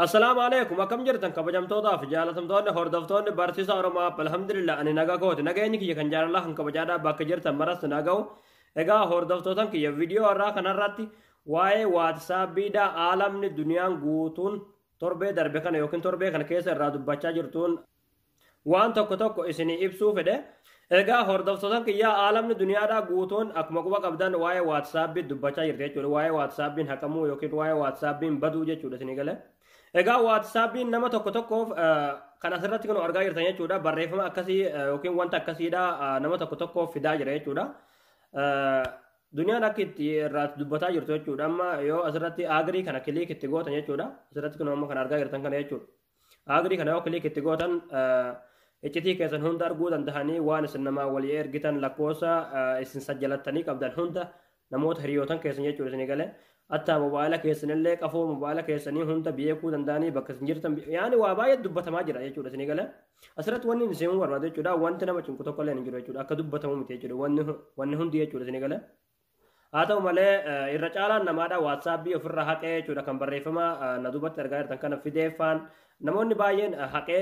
Assalaamu alaikum akkam jirtan kabajamtootaa fi jaalatamtoonni hordoftoonni barsiisa Oromoo App alhamdulillah ani nagaa kooti nageenyi kiyya kan jaalalaa kan kabajaadhaa bakka jirtan maratti naga'u egaa hordoftootan kiyya viidiyoo irraa kanarratti waa'ee waatsaappiidhaa aalamni duniyaan guutuun torbee darbe kana yookiin torbee kana keessa irraa dubbachaa jirtuun waan tokko tokko isinii ibsuu fedhe egaa hordoftootan kiyyaa aalamni duniyaadhaa guutuun akkuma quba qabdan waa'ee waatsaappiin dubbachaa jirti jechuudha waa'ee waatsaappiin haqamuu yookiin waa'ee waatsaappiin baduu jechuudha isinii galee egaa waatsaappiin nama tokko tokkoof kan asirratti kun argaa jirtan jechuudha barreeffama akkasii yookiin wanta akkasiidha nama tokko tokkoof fidaa jira jechuudha duniyaan akka itti irraa dubbataa jirtu jechuudha amma yoo asirratti agrii kana kiliik itti gootan jechuudha asirratti kun amma kan argaa jirtan kana jechuudha Agree kana yoo click itti gootan iccitii keessan hunda arguu danda'anii waan isin namaa walii ergitan lakkoofsa isin sajjalattanii qabdan hunda namoota hiriyootan keessan jechuun isin gale attaa mobaayila keessanillee qafoo mobaayila keessanii hunda beekuu danda'anii bakka isin jirtan yaani waa baay'ee dubbatamaa jira jechuudha isin gale asirratti wanni isin barbaadu jechuudha wanti nama cinqu tokko illee hin jiru jechuudha akka dubbatamu miti jechuudha wanni hundi jechuudha isin gale. Haa ta'u malee irra caalaan namaadha waatsaapbii ofirraa haqee jechuudha kan barreeffama na duubatti argaa jirtan kana fideeffaan namoonni baay'een haqee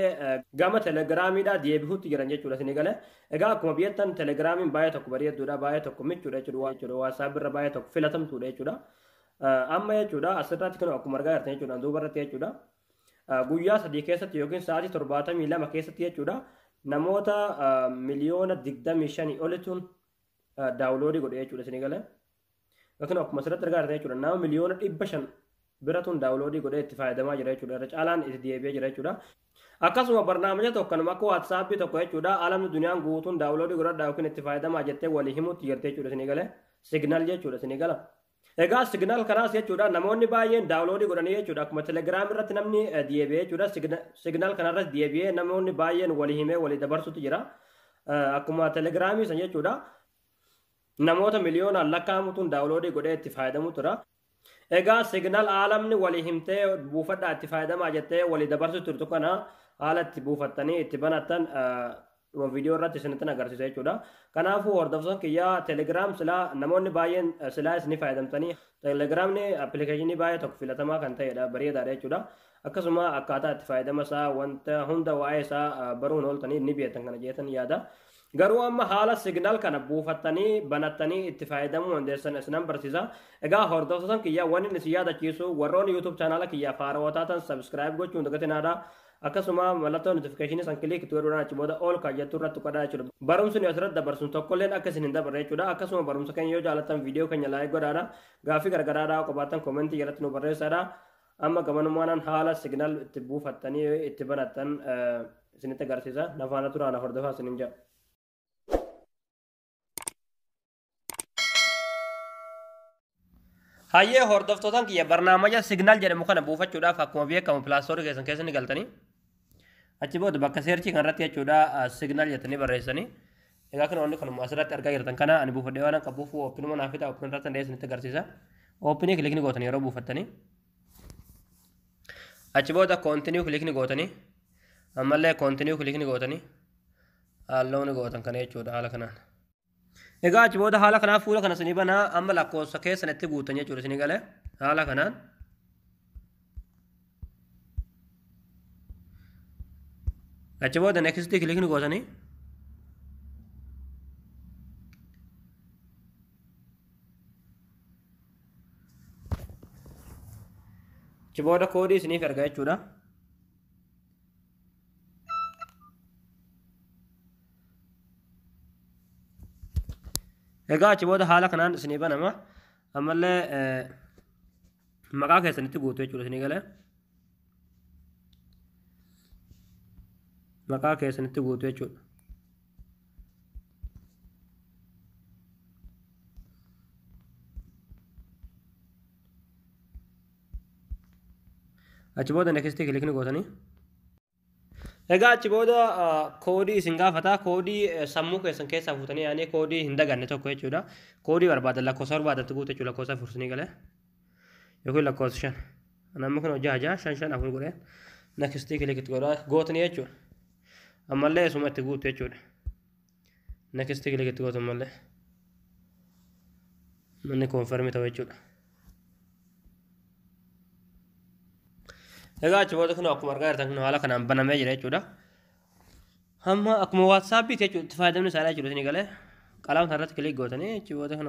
gama telegiraamiidha deebi'uutti jiran jechuudha isin gale egaa akkuma biyyattan telegiraamiin baay'ee tokko bareedduudha baay'ee tokko michuudha jechuudha waatsaappiirra baay'ee tokko filatamtuudha jechuudha amma jechuudha asirratti kan akkuma argaa jirtan jechuudha duubarratti jechuudha guyyaa sadii keessatti yookiin sa'aatii torbaatamii lama keessatti jechuudha namoota miliyoona digdamii shanii olituun daawuloodii godhe jechuudha isinii galee. Yookiin akkuma asirratti argaa jirtan jechuudha nama miliyoona dhibba shan biratuun daawuloodii godhee itti fayyadamaa jira jechuudha. Irra caalaan itti deebi'ee jira jechuudha. Akkasuma barnaamija tokko kanuma akka waatsaappii tokko jechuudha alamni duniyaan guutuun daawuloodii godhadhaa yookiin itti fayyadamaa jettee walii himuutti jirti jechuudha isinii galee. Signaal jechuudha isinii gala. Egaa signal kanaas jechuudha namoonni baay'een daawuloodii godhanii jechuudha akkuma telegiraam irratti namni deebi'ee jechuudha signal kanarratti deebi'ee namoonni baay'een walii himee walii dabarsutu jira akkuma telegiraamii san jechuudha namoota miliyoonaan lakkaa'amutuun daawuloodii godhee itti fayyadamu tura. Egaa signal aalamni walii himtee buufadhaa itti fayyadamaa jettee walii dabarsu turtu kana haala itti buufattanii itti banatan dhuma viidiyoo irratti isinittin agarsiisa jechuudha. Kanaafuu hordoftoota kiyyaa Telegram silaa namoonni baay'een silaa isin fayyadamtanii Telegramni appilikeeshinii baay'ee tokko filatamaa kan ta'edha bareedaadha jechuudha. Akkasuma akkaataa itti fayyadama isaa wanta hunda waa'ee isaa baruun ooltanii ni beektan kana jeetan yaada. Garuu amma haala signaal kana buufattanii banattanii itti fayyadamuu dandeessan isinan barsiisa. Egaa hordoftoota kiyyaa wanni isin yaadachiisu warroonni YouTube chaanaala kiyyaa faarootaa tan subscribe gochuun dagatinaadha. akkasuma mallattoo notifikashinii san kiliik itti godhuudhaan achi booda ol kan jettu irratti tuqadhaa jechuudha. Barumsi nu asirratti dabarsu tokkolleen akka isin hin dabarre jechuudha. Akkasuma barumsa keenya yoo jaallattan viidiyoo keenya laayik godhaadha. Gaaffii gargaraadhaa qabaattan koomentii jalatti nu barreessaadha. Amma gamanummaan haala siginaal itti buufattanii itti banattan isinitti agarsiisa. Nafaana turaa na hordofaa isinin jedha. Hayyee hordoftootaan kiyya barnaamaja signaal jedhamu kana buufachuudhaaf akkuma beekamu pilaastoorii keessan keessa ni galtanii. Achi booda bakka seerchii kanarratti jechuudha signaal jettanii barreessanii. Egaa kun wanni kanuma asirratti argaa jirtan kana ani buufadhee waan qabuuf oopinuma naaf fida oopin irratti hundeessan itti agarsiisa. Oopinii kilikni gootanii yeroo buufattanii. Achi booda koontiniyuu kilikni gootanii. Ammallee koontiniyuu kilikni gootanii. Haalloon gootan kana jechuudha haala kanaan. Egaa achi booda haala kanaan fuula kana isinii banaa amma lakkoofsa keessan itti guutan jechuudha isinii galee haala kanaan. Achi booda next kilikni gootanii achi booda koodii isiniif erga jechuudha. Egaa achi booda haala kanaan isinii banama. Ammallee eh, maqaa keessanitti guutu jechuudha isinii galee. Maqaa keessanitti guutu jechuudha. achi booda next click ni gootanii Egaa achi booda koodii isin gaafata. Koodii sammuu keessan keessaa fuutanii yaanii koodii hin daganne tokko jechuudha. Koodii barbaadan lakkoofsa barbaadan itti guutu jechuudha lakkoofsa afur isinii galee. Yookiin lakkoofsa shan. Namni kun hojii hajaa shan shan afur godhee nakistii kilik itti godhaa gootni jechuudha. Ammallee isuma itti guutu jechuudha. next click itti gootu malee manni confirm ta'u jechuudha. Egaa achi booda kun akkuma argaa jirtan kun haala kanaan banamee jira jechuudha. Amma akkuma WhatsApp itti jechuudha itti fayyadamni isaanii jechuudha isin galee qalama sana irratti click gootanii achi booda kun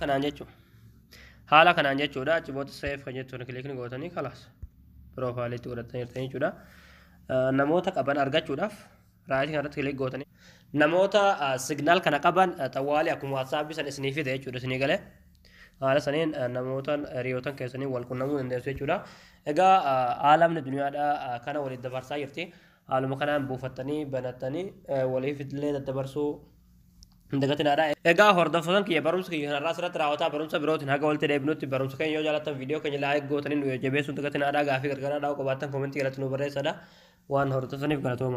kanaan jechuudha. Haala kanaan jechuudha achi booda seef kan jettuun kilikni gootanii kalaas piroofaayiliitti godhatanii jechuudha. Namoota qaban argachuudhaaf raayitii kanarratti kilik gootanii namoota signaal kana qaban xawwaalee akkuma waatsaappi san isinii fide jechuudha isinii galee haala saniin namootan hiriyootan keessanii wal qunnamuu dandeessu jechuudha. Egaa aalamni duniyaadhaa kana waliin dabarsaa jirti. Haaluma kanaan buufattanii banattanii waliif illee daddabarsuu hin dagatinaadha. Egaa hordoftotan kiyya barumsa kiyya kanarraa asirratti raawwataa barumsa birootiin haga walitti deebinutti barumsa keenya yoo jaallattan viidiyoo keenya laayik gootanii nu jajjabeessuu hin dagatinaadha. Gaafii gargaaraa dhaa'uu qabaattan koomentii jalatti nu barreessadha. Waan hordofaniif galatooma.